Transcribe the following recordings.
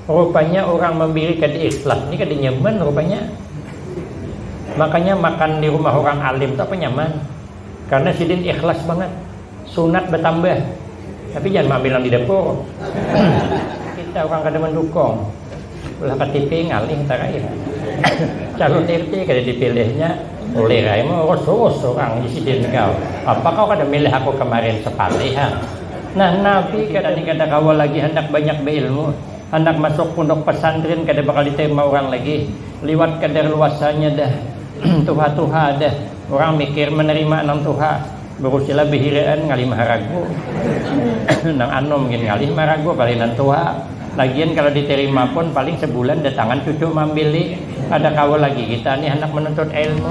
Rupanya urang mambiri kada ikhlas ni kada nyaman rupanya. Makanya makan di rumah urang alim tu apa nyaman. Karena sidin ikhlas bangat. Sunat batambah. Tapi jangan maambil nang di dapur. Kita urang kada mandukung. Ulah ktp ngalih tarakhir. Calon RT kada dipilihnya. Ulir ai maurus-urus urang di sidin kau. Apa kau kada milih aku kamarin? Sapalih ha. Nah Nabi kada ni kada kawa lagi handak banyak bailmu, handak masuk punduk pasantrin kada bakal ditarima urang lagi, liwat kadar luasanya dah tuha-tuha dah urang mikir manarima nang tuha, barusilah bahiraan ngalih maharagu, nang anum gin ngalih maharagu apalagi nang tuha. Lagian kalo diterima pun paling sebulan datangan cucu maambil li, kada kawa lagi kita ni handak manuntut ilmu.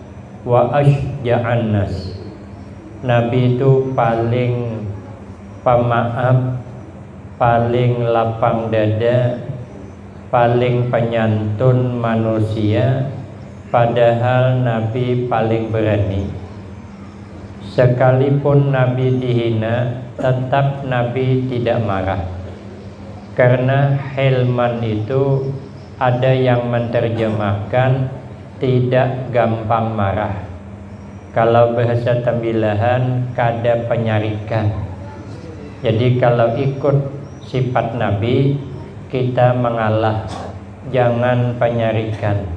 wa asyja'annas, Nabi tu paling pamaaf, paling lapang dada, paling panyantun manusia, padahal Nabi paling berani. Sekalipun Nabi dihina, tetap Nabi tidak marah. Karena hilman itu ada yang menterjemahkan, Tidak gampang marah. Kalau bahasa tambilahan kada panyarikan. Jadi kalau ikut sifat Nabi kita mangalah jangan panyarikan,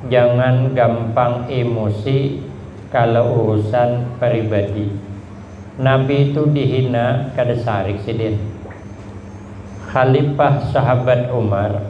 jangan gampang imusi kalau urusan paribadi. Nabi tu dihina kada sarik sidin. Khalifah sahabat Umar.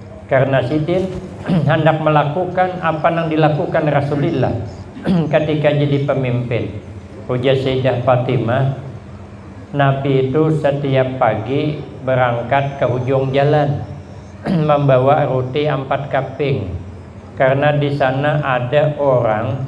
Karna sidin handak malakukan apa nang dilakukan Rasulillah katika jadi pamimpin. Ujar Sayyidah Fatimah, Nabi itu satiap pagi barangkat ka hujung jalan mambawa ruti ampat kaping karna di sana ada orang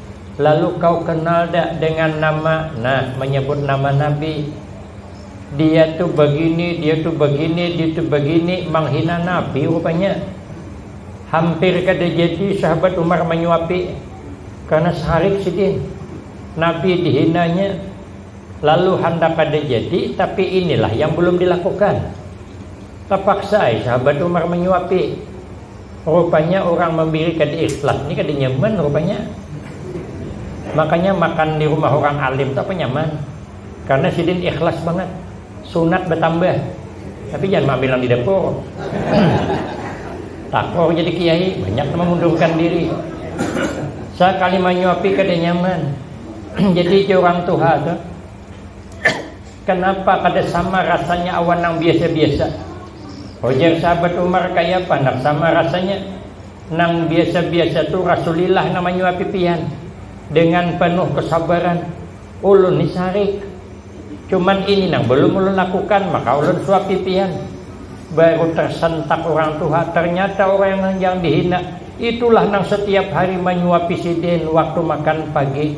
Lalu kau kenal dak dengan nama Nah menyebut nama Nabi Dia tu begini, dia tu begini, dia tu begini Menghina Nabi rupanya Hampir kada jadi sahabat Umar menyuapi Karena sarik sidin Nabi dihinanya Lalu handak kada jadi Tapi inilah yang belum dilakukan Tapaksa ai sahabat Umar menyuapi Rupanya urang mambiri kada ikhlas ni kada nyaman rupanya. Makanya makan di rumah urang alim tu apa nyaman. Karena sidin ikhlas bangat. Sunat batambah. Tapi jangan maambil nang di dapur. Takrur jadi kiai, banyak nang mamundurkan diri. Sakali manyuapi kada nyaman. Jadi jar urang tuha tu. Kanapa kada sama rasanya awan nang biasa-biasa? Ujar sahabat Umar, Kayapa handak sama rasanya? Nang biasa-biasa tu Rasulillah nang manyuapi pian dengan panuh kasabaran. Ulun ni sarik. Cuman ini nang balum ulun lakukan, maka ulun suapi pian. Baru tarsantak urang tuha, tarnyata urang yang dihina itulah nang satiap hari manyuapi sidin waktu makan pagi.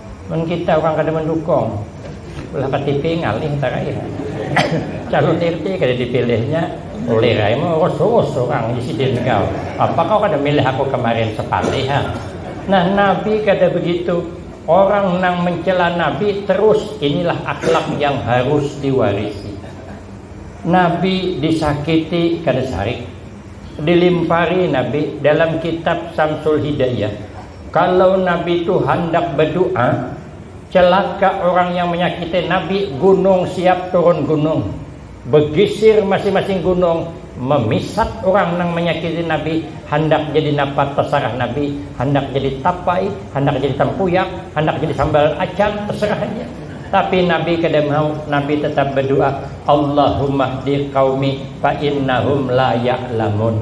Mun kita urang kada mandukung, ulah katipi ngalih taraih. Calon RT kada dipilihnya, ulir ai maurus-urus urang di sidin kau. Apa kau kada milih aku kamarin sapalih ha. Nah Nabi kada begitu, orang nang mencela Nabi terus inilah akhlak yang harus diwarisi. Nabi disakiti kada sarik, dilimpari Nabi dalam kitab Samsul Hidayah. Kalau Nabi tu handak badu'a, celaka orang yang menyakiti Nabi, gunung siap turun gunung, begisir masing-masing gunung, memisat orang nang menyakiti Nabi, handak jadi napa terserah Nabi, handak jadi tapai, handak jadi tempuyak, handak jadi sambal acan, terserah haja. Tapi Nabi kada mau, Nabi tetap badu'a, Allahumahdi qaumi fa innahum la ya'lamun.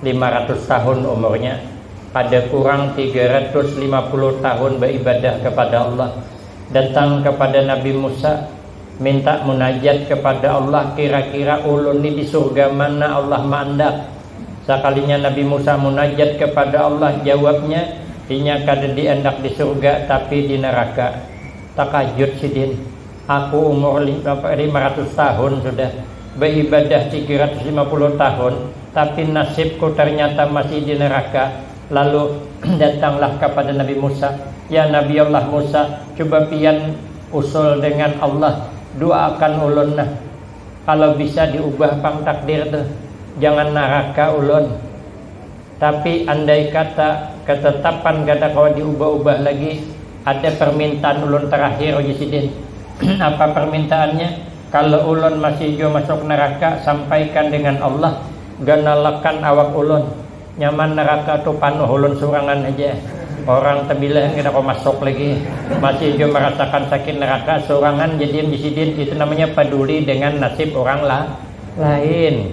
Lima ratus tahun umurnya, kada kurang tiga ratus lima puluh tahun baibadah kepada Allah, datang kepada Nabi Musa, minta munajat kepada Allah kira-kira ulun ni di surga mana Allah maandak, sakalinya Nabi Musa munajat kepada Allah jawabnya inya kada diandak di surga tapi di neraka, takajut sidin. Aku umur lima ratus tahun sudah, baibadah tiga ratus lima puluh tahun, tapi nasibku tarnyata masih di neraka. Lalu, datanglah kapada Nabi Musa, Ya Nabiallah Musa, cuba pian usul dengan Allah, duaakan ulun nah. Kalo bisa diubah pang takdir tuh, jangan naraka ulun. Tapi andai kata katatapan kada kawa diubah-ubah lagi, ada parmintaan ulun tarakhir ujar sidin. Apa parmintaannya? Kalo ulun masih jua masuk naraka sampaikan dengan Allah ganalakan awak ulun. Nyaman naraka tu panuh ulun surangan haja. Orang tabilahan kada kawa masuk lagi. Masih jua marasakan sakit naraka surangan jadian di sidin. Itu namanya paduli dengan nasib urang lain.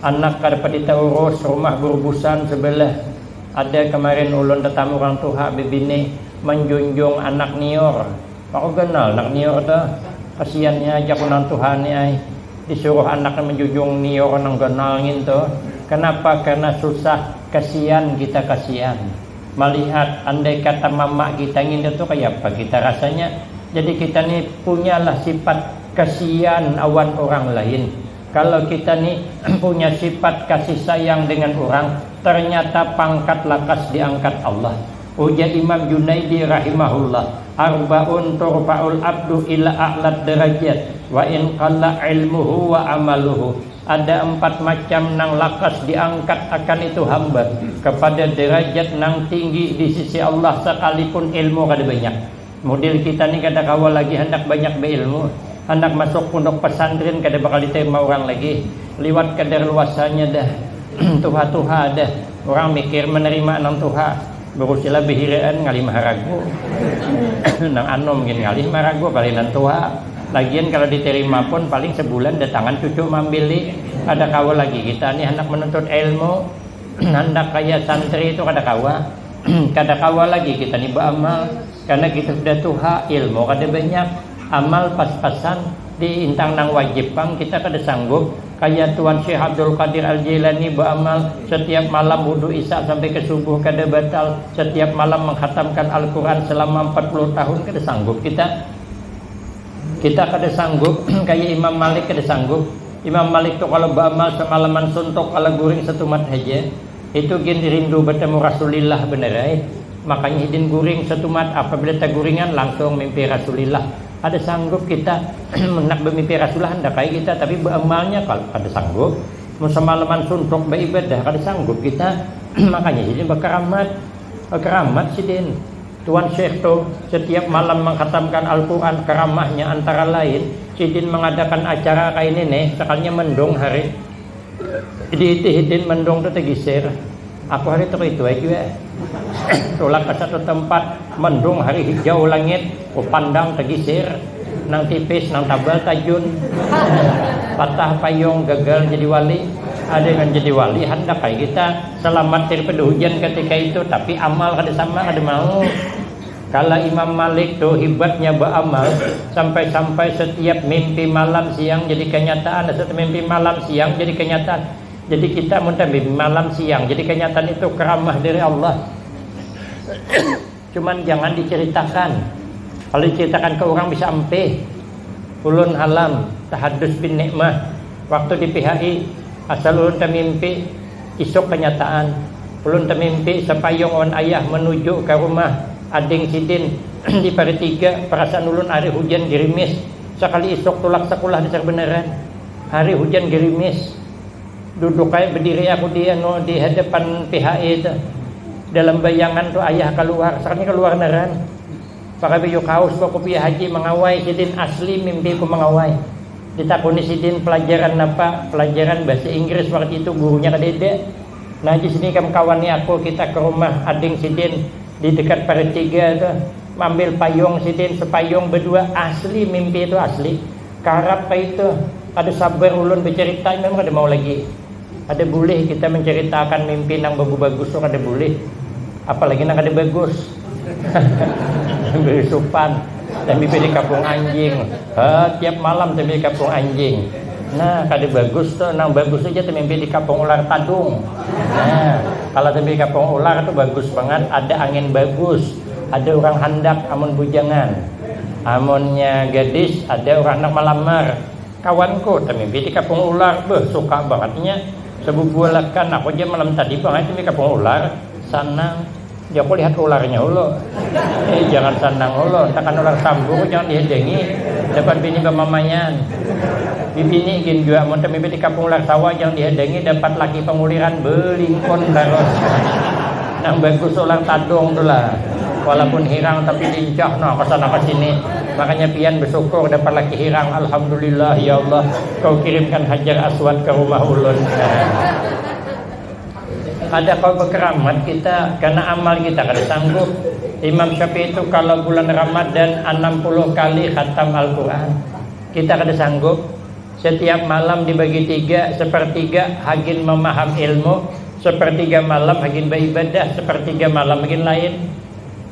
Anak kada pati taurus, rumah burubusan sebelah ada kemarin ulun tetamu urang tuha bebini manjunjung anak niur, maka ganal anak niur tuh, kasiannya ajak urang tuha nih ai, disuruh anaknya manjunjung niur nang ganal ngintu, kenapa karena susah kasian kita kasian malihat andai kata mama kita ngintu tuh kayapa kita rasanya, jadi kita nih punyalah sifat kasian awan urang lain. Kalo kita ni punya sifat kasih sayang dengan urang, ternyata pangkat lakas diangkat Allah. Ujar Imam Junaidi rahimahullah, Arbaun turfa'ul abdu ila a'lad darajat wa in qalla ilmuhu wa amaluhu, Ada empat macam nang lakas diangkat akan itu hamba kepada darajat nang tinggi di sisi Allah sakalipun ilmu kada banyak. Model kita ni kada kawa lagi handak banyak bailmu, handak masuk punduk pasantrin kada bakal ditarima urang lagi, liwat kadar luasanya dah, tuha-tuha dah, urang mikir manarima nang tuha, barusilah bahiraan ngalih maharagu, nang anum gin ngalih maharagu apalagi nang tuha, lagian kalo ditarima pun paling sabulan datangan cucu maambili, kada kawa lagi kita ni handak manuntut ilmu, handak kaya santri tu kada kawa. kada kawa lagi kita ni baamal karena kita sudah tuha ilmu kada banyak amal pas-pasan di intang nang wajib pang kita kada sanggup kaya tuan syekh abdul qadir al jailani baamal setiap malam wudu isya sampai ke subuh kada batal setiap malam mengkhatamkan al quran selama empat puluh tahun kada sanggup kita kita kada sanggup kaya imam malik kada sanggup imam malik tu kalo baamal semalaman suntuk kala guring setumat haja Itu gin rindu betemu rasulillah bener ai, makanya hidin guring setumat apabila taguringan langsung mimpi rasulillah, kada sanggup kita handak bemimpi rasulillah handak ai kita tapi beamalnya kada sanggup, mun semalaman suntuk beibadah kada sanggup kita makanya hidin bekeramat, bekeramat sidin tuan syekh tu setiap malam mengkhatamkan alquran keramahnya antara lain sidin mengadakan acara kaini nih sekalinya mendung hari. Diitih hidin mendung tu tegisir, aku hari tu kaitu ai jua. Tulak ka satu tempat, mendung hari hijau langit, ku pandang tegisir, nang tipis nang tabal tajun, patah payung gagal jadi wali. Ada nang jadi wali handak ai kita selamat daripada hujan katika itu, tapi amal kada sama kada mau. Kala Imam Malik tu hibatnya baamal, sampai-sampai satiap mimpi malam siang jadi kanyataan, satiap mimpi malam siang jadi kanyataan. Jadi kita mun tamimpi malam siang jadi kanyataan itu karamah dari Allah. Cuman jangan diceritakan. Kalo diceritakan ke urang bisa ampih. Ulun halam tahadus bin nikmah waktu di PHI asal ulun tamimpi Isuk kanyataan, ulun tamimpi sapayung wan ayah manuju ka rumah ading sidin di Paritiga, parasaan ulun ari hujan girimis, sakali isuk tulak sakulah dasar banaran hari hujan girimis, duduk ai badiri aku di anu di hadapan PHE tu, dalam bayangan tu ayah kaluar, sakalinya kaluar naran. Maka baju kaus ba kupiah haji mangawai sidin asli mimpi ku mangawai. Ditakuni sidin pelajaran napa, pelajaran bahasa inggris waktu itu gurunya kadada. Nah haji sidin ikam kawan ni aku kita ke rumah ading sidin di dekat parit tiga tu maambil payung sidin sepayung badua asli mimpi tu asli. Karap kaitu. Kada sabar ulun bacarita imam kada mau lagi. Kada bulih kita mancaritaakan mimpi nang bagubagus tu kada bulih, apalagi nang kada bagus. Sambil supan, sambil pilih kapung anjing. Ha, tiap malam sambil kapung anjing. Nah, kada bagus tu, nang bagus tu kita mimpi di kapung ular tadung. Nah, kalau sambil kapung ular tu bagus bangat, ada angin bagus, ada urang handak amun bujangan. Amunnya gadis ada urang handak malamar. Kawanku, tamimpi di kapung ular, beuh suka bangat inya, sabubualakan aku ja malam tadi pang ai tamimpi kapung ular, sanang ja ku lihat ularnya ulu, eh jangan sanang ulu, takan ular sambu ku jangan dihadangi dapat bini bamamaian, bibini gin jua amun tamimpi di kapung ular sawa jangan dihadangi dapat laki panguliran belingkun tarus, nang bagus ular tadung tu lah, walaupun hirang tapi lincah nah kasana kasini. Makanya pian besyukur dapat laki hirang alhamdulillah ya Allah kau kirimkan hajar aswad ka rumah ulun kada kawa bekeramat kita karna amal kita kada sanggup imam syafi'i tu kalo bulan ramadan anam puluh kali khatam alquran kita kada sanggup setiap malam dibagi tiga sepertiga hagin mamaham ilmu sepertiga malam hagin baibadah sepertiga malam hagin lain.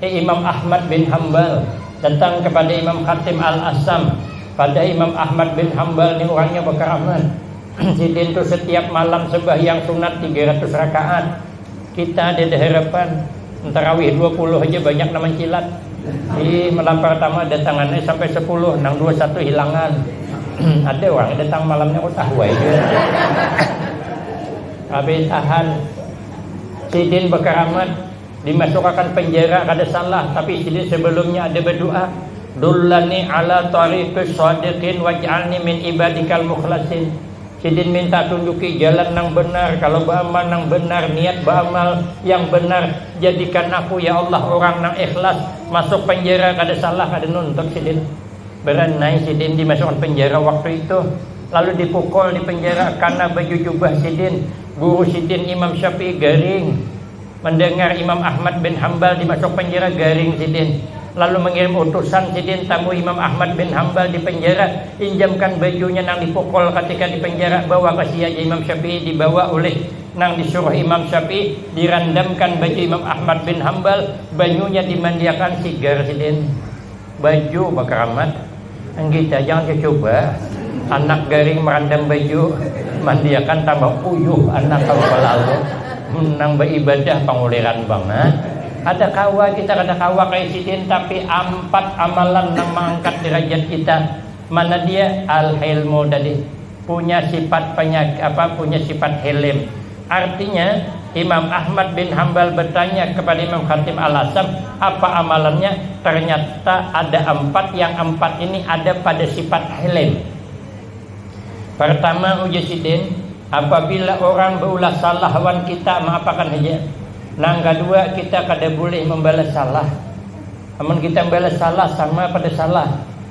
Imam Ahmad bin Hambal datang kepada Imam Hatim Al-Assam pada Imam Ahmad bin Hambal ni urangnya bakaramat sidin tu setiap malam sembahyang sunat 300 rakaat kita ada di harapan tarawih 20 haja banyak nang mancilat di malam pertama datangan ni sampai 10 nang 21 hilangan ada orang datang malamnya kok tahu aja habis tahan sidin bakaramat dimasukakan penjara kada salah tapi sidin sebelumnya ada berdoa dullani ala tariqis shadiqin waj'alni min ibadikal mukhlasin sidin minta tunjuki jalan nang benar kalau beramal nang benar niat beramal yang benar jadikan aku ya Allah urang nang ikhlas masuk penjara kada salah kada nuntut sidin beranai sidin dimasukakan penjara waktu itu lalu dipukul dipenjara karna baju jubah sidin guru sidin imam syafi'i garing. Mandangar Imam Ahmad bin Hambal dimasuki penjara garing sidin, lalu mangirim utusan sidin tamui Imam Ahmad bin Hambal di penjara, injamkan bajunya nang dipukul katika di penjara, bawa ka sia ja Imam Syafi'i dibawa ulih nang disuruh Imam Syafi'i, dirandamkan baju Imam Ahmad bin Hambal, banyunya dimandiakan sigar sidin. Baju bakaramat, enggi cajang cucuba, anak garing marandam baju, mandiakan tambah uyuh anak kaluar lalu, nang baibadah panguliran bangat, kada kawa kita kada kawa kaya sidin tapi ampat amalan nang maangkat dirajat kita, mana dia, al-hilmu tadi, punya sifat apa punya sifat hilim. Artinya, Imam Ahmad bin Hambal bertanya kepada Imam Khatib Al-Asam, apa amalannya? Ternyata ada ampat yang ampat ini ada pada sifat hilim. Pertama, ujar sidin, apabila orang beulah salah wan kita maapakan haja. Nang kadua, kita kada bulih membalas salah. Amun kita membalas salah, sama pada salah.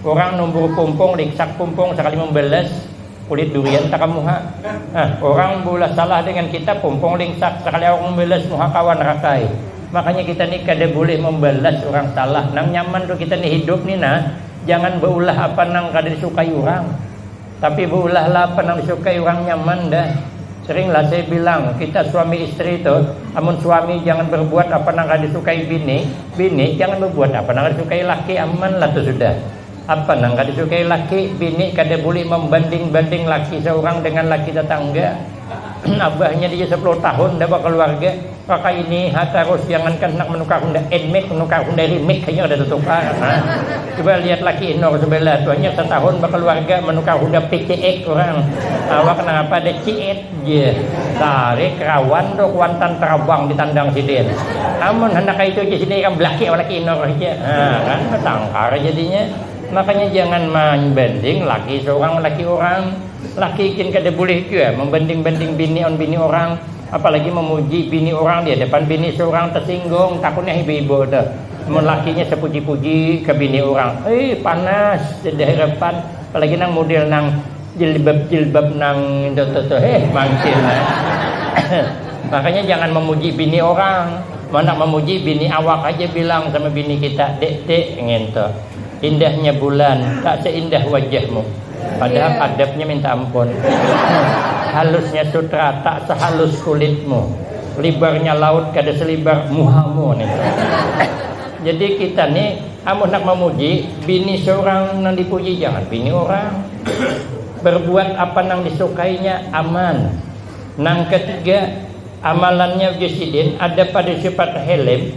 Urang numbur pumpung, riksak pumpung sakali mambalas kulit durian takam muha. Nah, urang beulah salah dengan kita, pumpung lingsak sakali awak mambalas muha kawan rakai. Makanya kita ni kada bulih mambalas urang salah. Nang nyaman tu kita ni hidup ni nah, jangan beulah apa nang kada disukai urang. Tapi beulah lah apa nang disukai urang nyaman dah. Sering lah saya bilang, kita suami isteri tuh, amun suami jangan berbuat apa nang kada disukai bini, bini jangan berbuat apa nang kada disukai laki, aman lah tuh sudah. Apa nang kada disukai laki, bini kada bulih membanding-banding laki seurang dengan laki tetangga. Abahnya di sepuluh tahun dah bakaluarga. Kaka ini ha tarus jangankan handak manukar honda nmax manukar honda remake haja kada tatukar ha coba lihat laki inur subalah tu hanyar satahun bakaluarga manukar honda pcx urang awak nangapa ada cx ja tarik rawan tu kuantan tarabang di tandang sidin amun handak kaitu ja sidin ikam belaki lawan laki inur haja ha kan batangkar jadinya makanya jangan manbanding laki saurang wan laki urang laki gin kada bulih jua mambanding-banding bini awan bini urang. Apalagi memuji bini urang di hadapan bini surang tersinggung takutnya ibu-ibu tu. Mun lakinya sepuji-puji ke bini urang, ih panas jar di hadapan. Apalagi nang mudel nang jilbab-jilbab nang itu tu tu heh mancin ai. Makanya jangan memuji bini urang. Mun handak memuji bini awak haja bilang sama bini kita, dek-dek ngintu. Indahnya bulan tak seindah wajahmu Padahal adabnya minta ampun Halusnya sutra tak sehalus kulitmu Libarnya laut kada selibar muhamu nih Jadi kita nih amun nak mamuji bini surang nang dipuji jangan bini urang Berbuat apa nang disukainya aman Nang ketiga amalannya ujar sidin ada pada sifat helem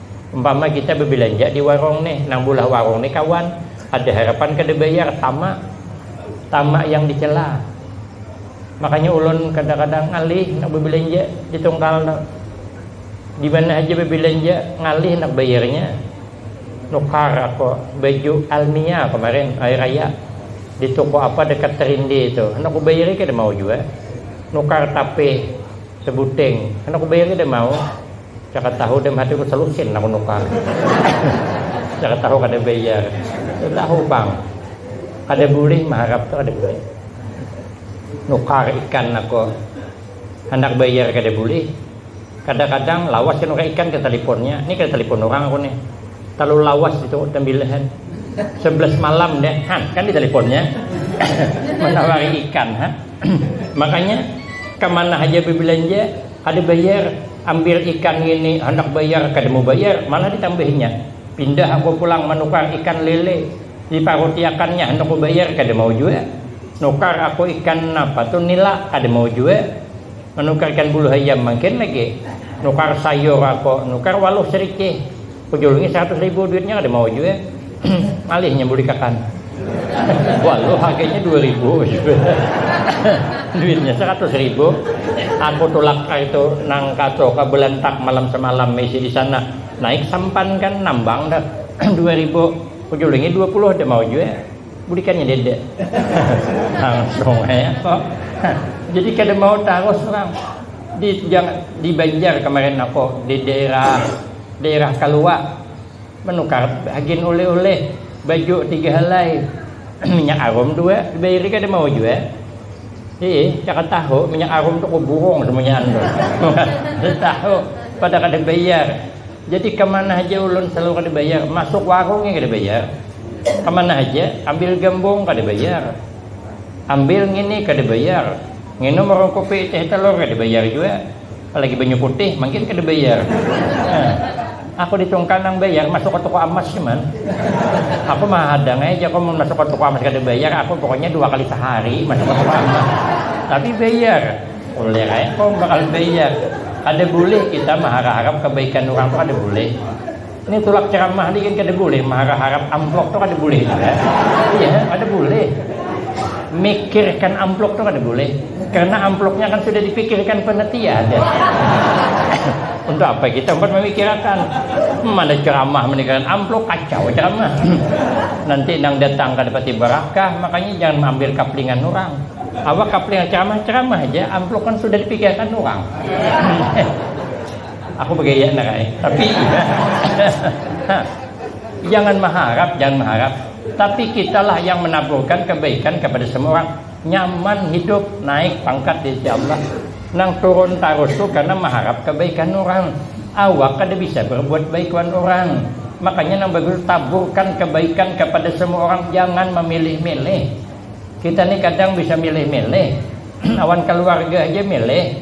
Umpama kita babilanja di warung nih, nang bulah warung nih kawan ada harapan kada bayar, tamak, tamak yang dicela. Makanya ulun kadang-kadang ngalih handak babilanja di tungkal tu. Di mana haja babilanja ngalih handak bayarnya. Nukar aku baju Almia kamarin hari raya di toko apa dekat Terinde tu, handak kubayari kada mau jua. Nukar tapih sebuting handak kubayari kada mau. Cakap tahu dalam hati ku selusin aku nukar. Cakap tahu kada bayar. Tahu bang. Kada boleh maharap tu kada boleh. Nukar ikan aku. Handak bayar kada boleh. Kadang-kadang lawas nukar ikan ke taliponnya. Ni kada talipon orang aku ni. Terlalu lawas itu tembilahan. Sebelas malam deh. Han, kan di taliponnya. Menawari ikan. Ha? Makanya kemana aja berbelanja Kada bayar, ambil ikan ngini, handak bayar kada mau bayar, malah ditambahinya. Pindah aku pulang manukar ikan lele, diparutiakannya handak kubayar kada mau jua. Nukar aku ikan napa tu nila, kada mau jua. Manukar ikan bulu hayam mangkin lagi. Nukar sayur aku, nukar waluh sericih. Ujul ini seratus ribu duitnya ada mau juga ngalihnya bulikakan walau harganya dua ribu duitnya seratus ribu aku tulak itu nang kaco ke belantak malam semalam misi di sana naik sampan kan nambang dah dua ribu ujul ini dua puluh ada mau juga bulikannya dede langsung ya kok jadi kada mau taruh orang di, di Banjar kemarin aku di daerah dairah kaluwa, manukar hagin ulih-ulih, baju tiga halai, minyak arum dua, dibairi kada mau jua, hiih jangan tahu minyak arum tu kawa burung samunyaan tu, kada tahu pada kada bayar, jadi kamana haja ulun salalu kada bayar, masuk warung ja kada bayar, kamana haja, ambil gambung kada bayar, ambil ngini kada bayar, nginum warung kopi teh talur kada bayar jua. Apalagi banyu putih, mangkin kada bayar. Eh, aku di Tungkal nang bayar masuk ke toko amas cuman. Aku mah hadang aja aku mun masuk ke toko amas kada bayar, aku pokoknya dua kali sehari masuk ke toko amas. Tapi bayar. Boleh ae kau bakal bayar. Kada boleh kita mengharap-harap kebaikan orang tuh kada boleh. Ini tulak ceramah ni kan kada boleh marah harap amplop tu kada boleh juga. Iya, kada boleh. Mikirkan amplop tu kada boleh. Karena amplopnya kan sudah dipikirkan panitia ada. Untuk apa kita empat memikirkan? Mana ceramah meninggalkan amplop kacau ceramah. Nanti nang datang kada pati berakah, makanya jangan mengambil kaplingan orang. Awak kaplingan ceramah ceramah aja, amplop kan sudah dipikirkan orang. Aku bagaya nak ai. Tapi jangan mengharap, jangan mengharap. Tapi kita lah yang menaburkan kebaikan kepada semua orang. Nyaman hidup, naik pangkat di sisi Allah. Nang turun tarus tu karena mengharap kebaikan orang. Awak kada bisa berbuat baik wan orang. Makanya nang bagus tu taburkan kebaikan kepada semua orang, jangan memilih-milih. Kita ni kadang bisa milih-milih, awan keluarga haja milih.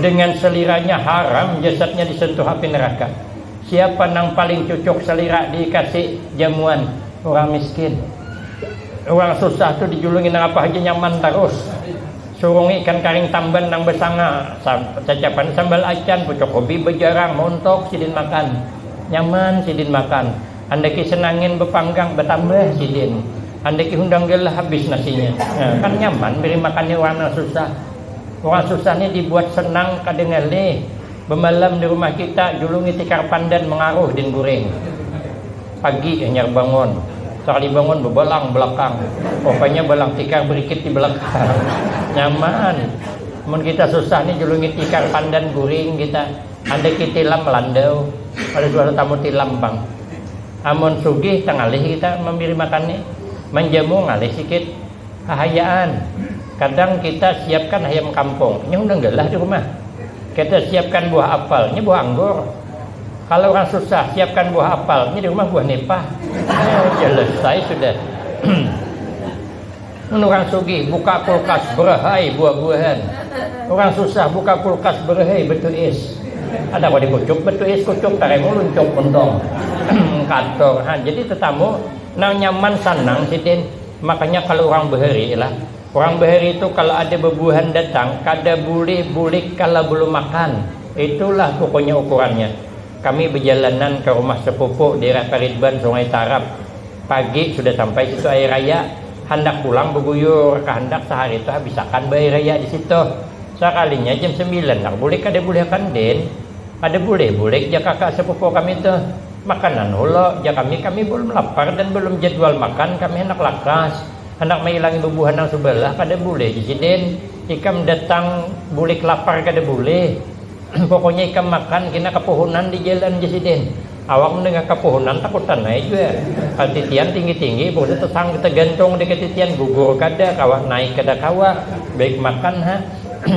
dengan seliranya haram jasadnya disentuh api neraka siapa nang paling cucuk selira dikasi jamuan urang miskin urang susah tu dijulungi nang apa haja nyaman tarus surungi ikan karing tamban nang basanga cacapan sambal acan pucuk ubi bajarang mauntuk sidin makan nyaman sidin makan handaki senangin bapanggang batambah sidin handaki hundang galah habis nasinya nah kan nyaman beri makannya urang nang susah. Urang susah ni dibuat senang kadengar nih, bemalam di rumah kita julungi tikar pandan mengaruh din guring. Pagi hanyar bangun, sakali bangun bebalang belakang, rupanya balang tikar berikit di belakang. Nyaman mun kita susah ni julungi tikar pandan guring kita, handaki tilam melandau, kada suah tetamu tilam pang. Amun sugih tengalih kita mambiri makan ni, manjamu ngalih sikit. Hahayaan, kadang kita siapkan hayam kampung, nya undang galah di rumah. Kita siapkan buah apal, nya buah anggur. Kala urang susah, siapkan buah apal, nya di rumah buah nipah. Nya selesai sudah. Mun urang sugih, buka kulkas, berahai buah-buahan. Urang susah, buka kulkas, berahai batu is. Kada kawa dikucuk batu is, kucuk taremu luncuk untung. Kator ha, jadi tetamu nang nyaman, sanang sidin. Makanya kalo urang bahari lah, urang bahari tu kalo ada babuhan datang kada bulih bulik kalo balum makan, itu lah pukoknya ukurannya. Kami bajalanan ka rumah sepupu dairah Karidban Sungai Tarap, pagi sudah sampai situ air raya, handak pulang baguyur kahandak sahari tu habisakan ba air raya disitu, sakalinya jam sambilan nang bulik kada bulih akan din, kada bulih bulik jar kaka sepupu kami tu. Makanan hula, jar kami, kami balum lapar dan balum jadwal makan, kami handak lakas, handak mailangi bubuhan nang subalah, kada bulih jar sidin, ikam datang bulik lapar kada bulih, pokoknya ikam makan kina kapuhunan di jalan jar sidin, awak mandangar kapuhunan takutan ai jua, katitian tinggi-tinggi, bungsu tasangkut tagantung di katitian, gugur kada kawa, naik kada kawa, baik makan ha,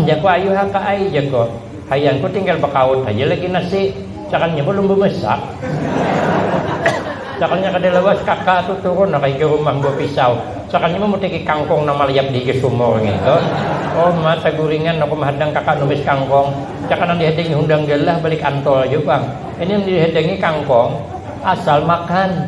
jarku ayuh ha kak ai, jarku. Hayangku tinggal bakaut haja lagi nasi, cakalnya balum bamasak. Cakalnya kada lawas kaka tu turun ha kahiga rumah mambawa pisau, cakalnya mamutiki kangkung nang malayap dihiga sumur ngitu. Uma, saguringan aku mahadang kaka numis kangkung, cakal nang dihadangi hundang galah balik antol haja pang. Ini nang dihadangi kangkung asal makan.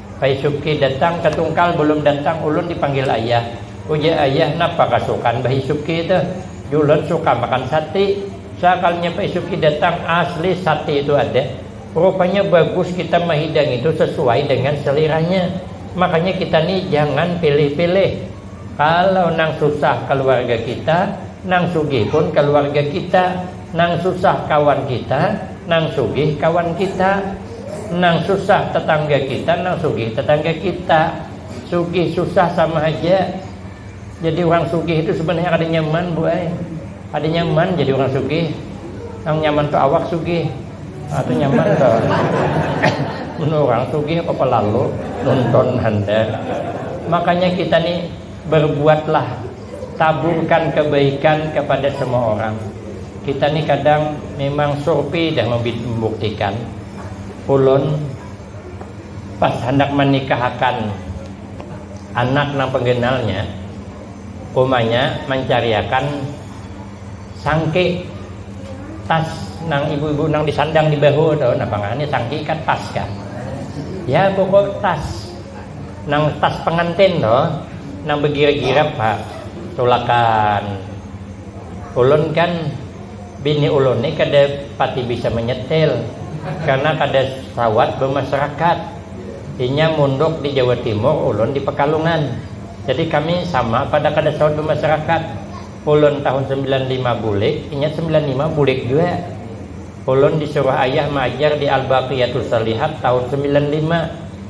Paisuki datang ka tungkal bulum datang ulun dipanggil ayah. Ujar ayah napa kasukan baisuki tuh. Julun suka makan sati. Sakalinya paisuki datang asli sati itu ada. Rupanya bagus kita mahidang itu sesuai dengan seliranya. Makanya kita nih jangan pilih pilih. Kalau nang susah kaluarga kita, nang sugih pun kaluarga kita. Nang susah kawan kita, nang sugih kawan kita. Nang susah tetangga kita, nang sugih tetangga kita. Sugih susah sama haja. Jadi urang sugih itu sebenarnya kada nyaman bu ai. Kada nyaman jadi urang sugih. Nang nyaman tu awak sugih. Nah tu nyaman tu. Mun urang sugih apa pelalu nonton handar. Makanya kita ni berbuatlah taburkan kebaikan kepada semua orang kita ni kadang memang surpi dah membuktikan ulun pas handak manikahakan anak nang penggenalnya umanya mancariakan sangki tas nang ibu-ibu nang disandang di bahu tu napa ngarannya sangki kah tas kah ya pokok tas. Nang tas pengantin tu nang begirap-girap ha tulakan ulun kan bini ulun ni kada pati bisa menyetil karna kada sawat bemasyarakat inya munduk di jawa timur ulun di pekalungan jadi kami sama pada kada sawat bemasyarakat ulun tahun sembilan lima bulik inya sembilan lima bulik jua ulun disuruh ayah maajar di albaqiatusolihat tahun sembilan lima.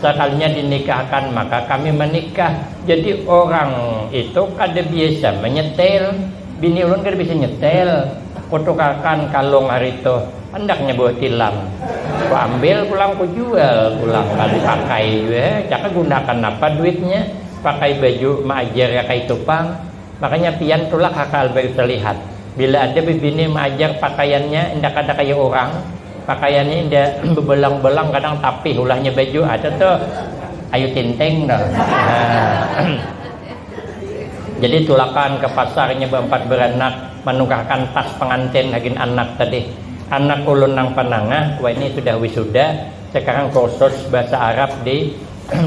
Sakalinya dinikahkan maka kami manikah. Jadi orang itu kada biasa manyetel. Bini ulun kada biasa nyetel. Kutukarkan kalung hari itu. Handaknya buah tilam. Kuambil pulang kujual pulang. Kada dipakai jua. Caka gunakan napa duitnya. Pakai baju maajar ya kaitu pang. Makanya pian tulak ha ka Alberta lihat, bila ada bibini maajar pakaiannya inda kada kaya urang, pakaiannya inda bebelang-belang kadang tapih ulahnya baju ha tu tu Ayu Tinting tu ha jadi tulakan ka pasarnya beempat beranak manukahkan tas pengantin hagin anak tadi, anak ulun nang panangah waini sudah wisuda sekarang kursus bahasa Arab di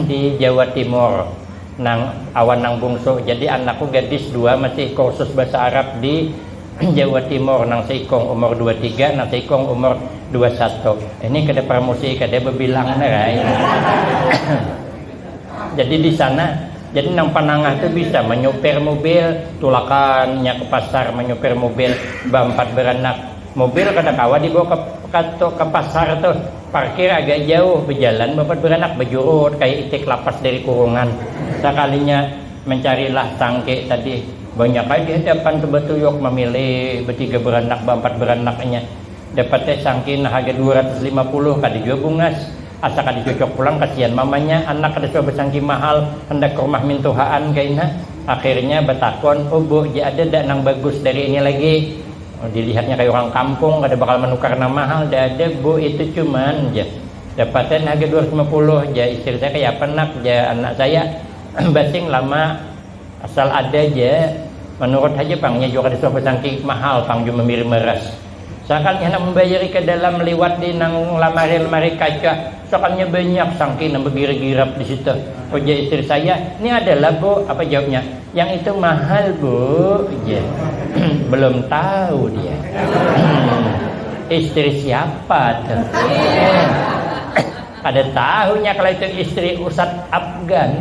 di Jawa Timur. Nang awan nang bungsu jadi anakku gadis dua masih kursus bahasa Arab di Jawa Timur, nang seikung umur dua tiga, nang seikung umur dua satu. Ini kada parmusi kada bebilang nar ai. jadi di sana jadi nang panangah tu bisa manyupir mubil, tulakan inya ke pasar manyupir mubil baampat baranak. Mubil kada kawa dibawa ke pasar tu. Parkir agak jauh, bejalan bapat beranak bejurut kaya itik lapas dari kurungan. Sakalinya mencarilah tangke tadi, banyak ai di hadapan tu batuyuk mamilih betiga beranak baampat beranak inya. Dapat ai sangki nang haga dua ratus lima puluh, kada jua bungas. Asa kada cocok pulang kasian mamanya, anak kada suah basangki mahal, handak karumah mintuhaan kaina. Akhirnya batakun, Ubu ja ada dak nang bagus dari ini lagi? Dilihatnya kaya urang kampung kada bakal manukar nang mahal dah ada bu itu cuman jar dapatan harga dua ratus lima puluh jar istri saya kaya apa nak jar anak saya basing lama asal ada ja manurut haja pang inya jua kada suah basangking mahal pang jua mamiri maras sakalinya handak mambayari kadalam liwat di nang lamari lamari kaca. Sakannya banyak sangki nang bagirap-girap di situ. Ujar istri saya, Ni ada lah bu. Apa jawabnya? Yang itu mahal bu, ujar. Belum tahu dia. Istri siapa tuh? Kada tahunya kalau itu istri Ustaz Afgan.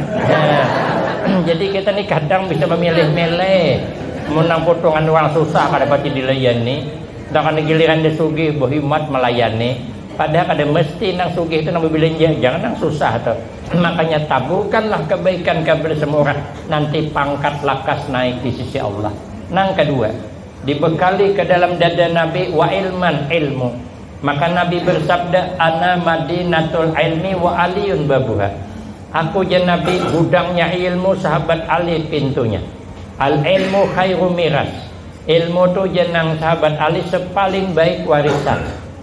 Jadi kita ni kadang bisa mamilih-milih. Mun nang putungan urang susah kada pati dilayani. Nang giliran dia sugih bahimat malayani. Pada kada mesti nang sugih tu nang bebelanja, jangan nang susah tu. Makanya taburkanlah kebaikan kapada semua urang, nanti pangkat lakas naik di sisi Allah. Nang kadua, dibekali ke dalam dada Nabi wa ilman, ilmu. Maka Nabi bersabda, Ana madinatul ilmi wa Aliyun babuha. Aku jar Nabi, gudangnya ilmu, sahabat Ali pintunya. Al ilmu khairu miras. Ilmu tu jar nang sahabat Ali sepaling baik warisan.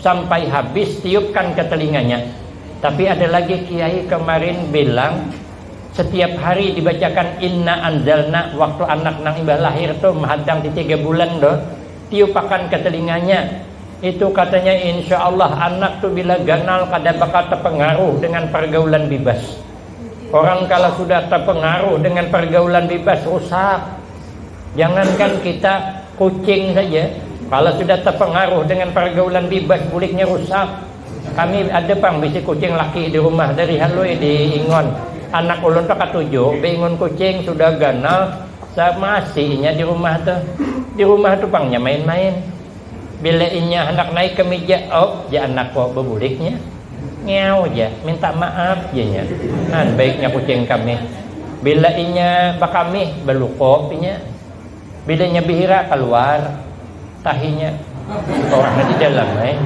Sampai habis tiupkan ke telinganya. Tapi ada lagi kiai kemarin bilang setiap hari dibacakan inna anzalna waktu anak nang imbah lahir tu mahadang di tiga bulan tu tiupakan ke telinganya itu katanya insya Allah anak tu bila ganal kada bakal terpengaruh dengan pergaulan bibas orang kala sudah terpengaruh dengan pergaulan bibas rusak. Jangankan kita, kucing saja kalau sudah terpengaruh dengan pergaulan bibas kulitnya rusak. Kami ada pang bisi kucing laki di rumah dari halui di ingon. Anak ulun tu katujuh be ingon kucing sudah ganal sama asi inya di rumah tu. Di rumah tu pang nya main-main. Bila inya handak naik ka mija, op ja anak ko babuliknya. Ngeaw ja, minta maaf ja nya. An baiknya kucing kamih. Bila inya bakamih, baluko inya. Bila inya bihira, kaluar tahinya. Orang nya di dalam ai.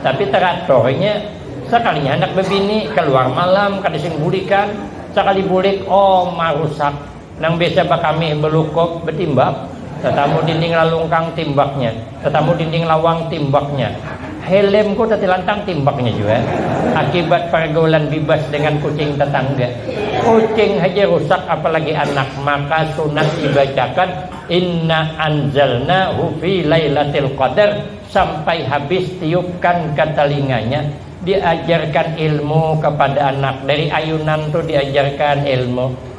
Tapi teratur inya. Sakalinya handak babini, kaluar malam, kada sing bulikan. Sakali bulik, oh marusak Nang biasa bakamih balukup batimbak, tatamu dinding lalungkang timbaknya, tatamu dinding lawang timbaknya, helmku tatilantang timbaknya jua akibat pargaulan bibas dengan kucing tatangga. Kucing haja rusak apalagi anak, maka sunat dibacakan Inna anzalnahu fi lailatil qadar sampai habis tiupkan ka talinganya, diajarkan ilmu kapada anak, dari ayunan tu diajarkan ilmu.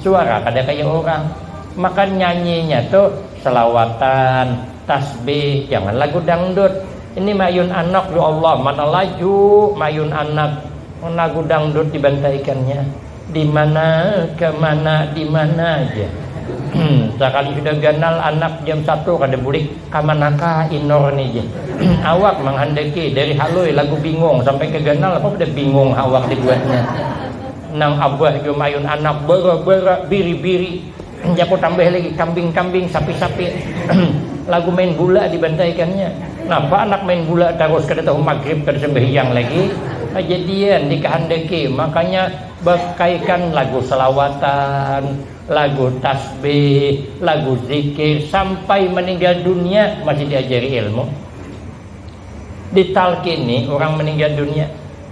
Suara kada kaya urang. Maka nyanyinya tu selawatan, tasbih, jangan lagu dangdut. Ini mayun anak ya Allah, mana laju mayun anak lagu dangdut dibantaikannya. Dimana, kemana, dimana ja. Sakali sudah ganal anak jam satu kada bulik, kamanakah inur ni ja. Awak manghandaki dari halui lagu bingung sampai ke ganal apa sudah bingung awak dibuatnya. Nang abah jua mayun anak bara-bara, biri-biri, jaku tambah lagi kambing-kambing, sapi-sapi, lagu main gula dibantaikannya. Napa anak main gula tarus kada tahu magrib kada sambahyang lagi. Kajadian dikahandaki makanya bakaikan lagu salawatan, lagu tasbih, lagu zikir sampai maninggal dunia masih diajari ilmu, ditalkini urang maninggal dunia.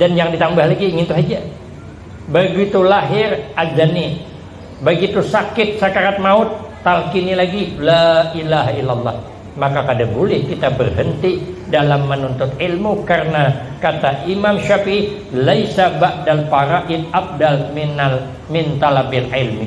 Dan jangan ditambah lagi, ngintu haja. Begitu lahir, adzani. Begitu sakit, sakarat maut, talkini lagi, La ilaha illallah. Maka kada bulih kita berhenti dalam menuntut ilmu karena kata Imam Syafi'i, Laisa ba'dal faraid afdal minal min talabil ilmi.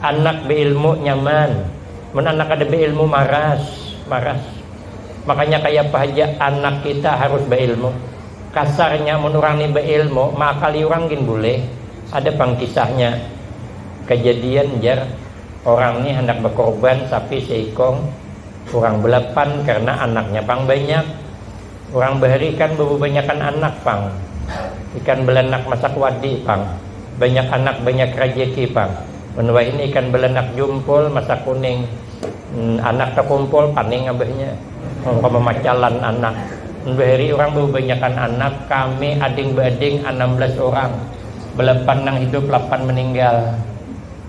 Anak beilmu nyaman, mun anak kada beilmu maras, maras. Makanya kayapa haja anak kita harus beilmu. Kasarnya mun urang ni beilmu, maakali urang gin bulih. Ada pang kisahnya, kejadian jar orang ni handak bekorban sapi seikong, urang belapan karena anaknya pang banyak. Urang bahari ikan bababanyakan anak pang. Ikan balanak masak wadi pang. Banyak anak banyak rajaki pang. Mun wahini ikan balanak jumpul masak kuning. Anak takumpul paning abahnya. Mungka mamacalan anak. Mun bahari urang bababanyakan anak, kami ading baading anam belas urang. Balapan nang hidup lapan maninggal.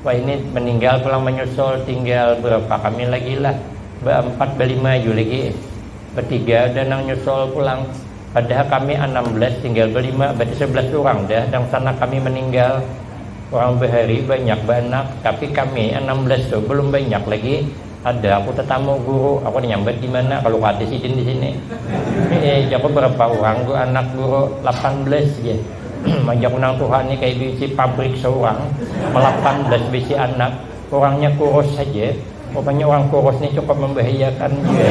Wahini maninggal pulang manyusul tinggal barapa kami lagilah. Baampat balima aju lagi. Batiga dah nang nyusul pulang. Padahal kami anam belas tinggal balima, berarti sebelas urang dah dangsanak kami maninggal. Urang bahari banyak baanak, tapi kami anam belas tu balum banyak lagi. Kada aku tatamu guru, aku tanyambat dimana kalu kada sidin disini. Hee, jaku barapa urang gu anak guru, lapan belas jar. Ajaku nang tuha ni kaya bisi pabrik saurang, lapan belas bisi anak. Orangnya kurus haja, rupanya orang kurus ni cukup mambahayakan jua.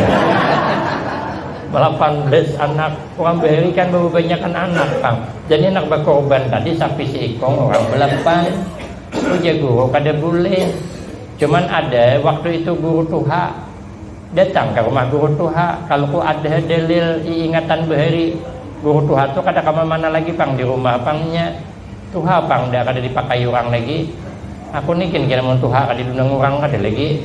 Lapan belas anak, urang bahari kan bababanyakan anak pang, jadi anak bakurban tadi sapi seikung urang balapan. Ujar guru kada bulih, cuman ada waktu itu guru tuha, datang ka rumah guru tuha, kalu ku ada dalil iingatan bahari, guru tuha tu kada kawa mana lagi pang di rumah pang nya. Tuha pang dah kada dipakai urang lagi. Aku ni gin kira mun tuha kada dinunung urang kada lagi.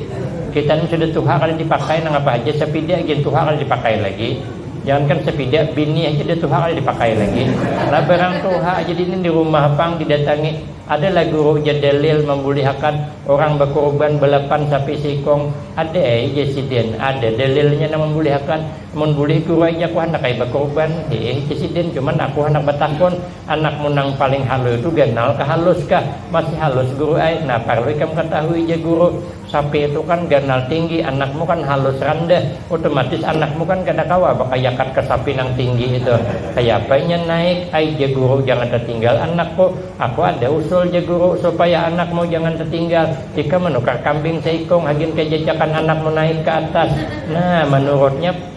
Kita ni sudah tuha kada dipakai nangapa haja sapida gin tuha kada dipakai lagi. Jangankan sapida, bini haja dah tuha kada dipakai lagi. Lah barang tuha haja dini di rumah pang didatangi. Ada lah guru jar Dalil mambulihakan urang bakurban balapan sapi seikung. Ada ai jar sidin, ada dalilnya nang mambulihakan. Mun bulih guru ai jar aku handak ai bakurban. Hiih jar sidin, cuman aku handak batakun. Anakmu nang paling halui tu ganal kah halus kah? Masih halus guru ai. Nah parlu ikam katahui ja guru, sapi tu kan ganal tinggi, anakmu kan halus randah, otomatis anakmu kan kada kawa bakayakat ka sapi nang tinggi itu. Kayapa inya naik ai ja guru jangan tatinggal anakku. Aku ada usul ja guru supaya anakmu jangan tatinggal, ikam manukar kambing saikung hagin kajajakan anakmu naik ka atas. Nah manurutnya.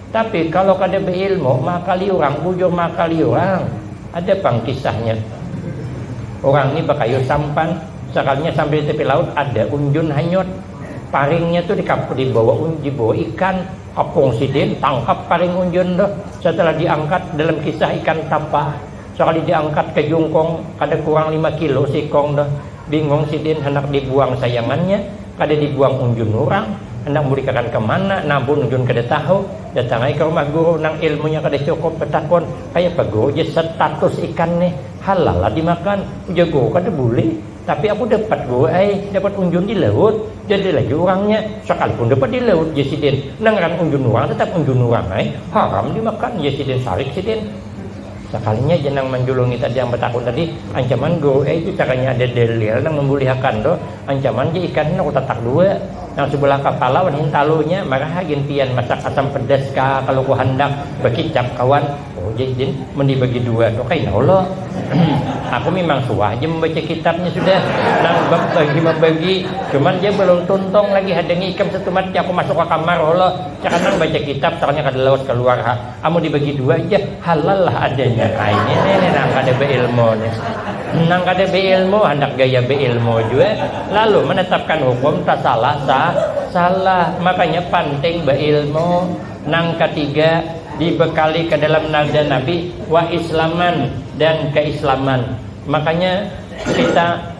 Tapi kalo kada beilmu maakali urang bujur maakali urang ada pang kisahnya urang ni bakayu sampan sekalinya sambil ditepi laut ada unjun hanyut paringnya tu dibawa dibawa ikan kepung sidin tangkap paring unjun tu setelah diangkat dalam kisah ikan tapa sekali diangkat ke jungkung kada kurang lima kilo seikung tu. Bingong sidin handak dibuang sayangannya, kada dibuang unjun urang, handak mulikakan ka mana nah ampun unjun kada tahu, datang ai ka rumah guru nang ilmunya kada cukup batakun, kayapa guru jar setatus ikan nih, halal lah dimakan, ujar guru kada bulih, tapi aku dapat guru ai, dapat unjun di laut, jar dia lagi urangnya, sakalipun dapat di laut jar sidin, nang ngaran unjun urang tatap unjun urang ai, haram dimakan jar sidin, sarik sidin. Sakalinya ja nang manjulungi tadi nang batakun tadi ancaman go eh itu caranya ada dlil nang mambulihakan tu ancaman ja ikan ni aku tatak dua nang subalah kapala wan hintalu nya maraha gin pian masak asam pedas ka kalu ku handak bakicap kawan oh ja idin mun di bagi dua tu kaina ulo aku mimang suah ja mambaca kitab nya sudah nang bab bagi mambagi cuman ja balum tuntung lagi hadangi ikam satumat ja aku masuk ka kamar ulo cakannang baca kitab soalnya kada lawas kaluar ha. Amun dibagi dua ja halal lah adanya ai ini ini nang kada beilmu ni. Nang kada beilmu handak gaya beilmu jua lalu menetapkan hukum tak salah sah salah makanya panting beilmu. Nang katiga dibekali ke dalam nada Nabi wa islaman dan keislaman makanya kita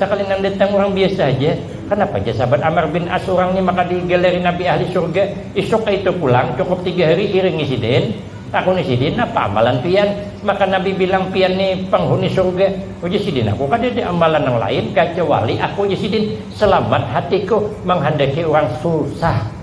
Sakali nang datang urang biasa haja, kanapa jar sahabat Ammar bin As urang ni maka digalari nabi ahli surga, isuk kaitu pulang cukup tiga hari iringi sidin, takuni sidin napa amalan pian, maka nabi bilang pian ni panghuni surga, ujar sidin aku kadada amalan nang lain kacawali aku jar sidin selamat hatiku manghandaki urang susah.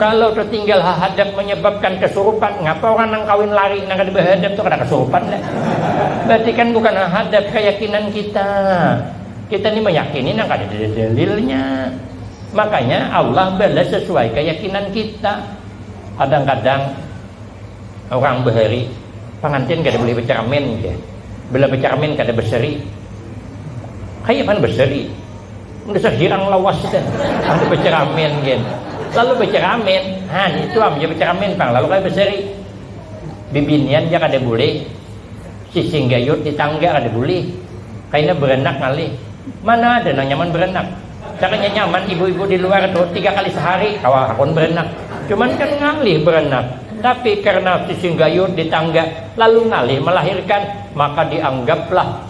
Kalo tetinggal hahadap menyebabkan kesurupan, ngapa orang nang kawin lari nang kada bahadap tu kada kesurupan dah. Berarti kan bukan hahadap, keyakinan kita. Kita ni meyakini nang kada ada dalilnya. Makanya Allah balas sesuai keyakinan kita. Kadang-kadang orang bahari pengantin kada boleh becermin jar. Bila becermin kada berseri. Kaya mana berseri? Dasar hirang lawas kita. Lalu beceramin gen. Lalu beceramin. Ha, ni itu am je beceramin pang. Lalu kaya beseri. Bibinian ja kada bulih. Cicing gayut di tangga kada bulih. Kaina beranak ngalih. Mana ada nang nyaman beranak. Caranya nyaman ibu-ibu di luar tu tiga kali sehari kawa hakun beranak. Cuman kan ngalih beranak. Tapi karena cicing gayut di tangga lalu ngalih melahirkan maka dianggaplah.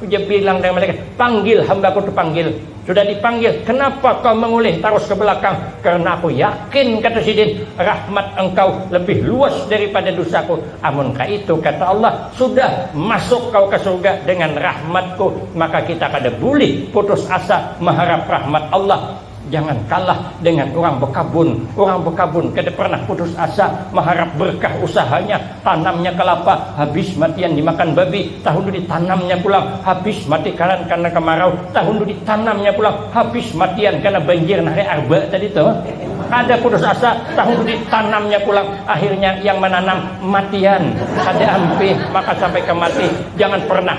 Ujar bilang dengan malaikat, Panggil hambaku tu panggil. Sudah dipanggil, kenapa kau mengulih tarus ke belakang? Karena aku yakin, kata Sidin, rahmat Engkau lebih luas daripada dusaku. Amun kaitu, kata Allah, sudah, masuk kau ka surga dengan rahmat-Ku. Maka kita kada bulih putus asa maharap rahmat Allah. Jangan kalah dengan urang bekabun, urang bekabun kada pernah putus asa maharap berkah usahanya, tanamnya kelapa habis matian dimakan babi, tahun tu ditanamnya pulang habis mati karan karna kemarau, tahun tu ditanamnya pulang habis matian karna banjir nah hari arba tadi tu kada putus asa, tahun tu ditanamnya pulang akhirnya yang menanam matian kada ampih maka sampai ke mati jangan pernah.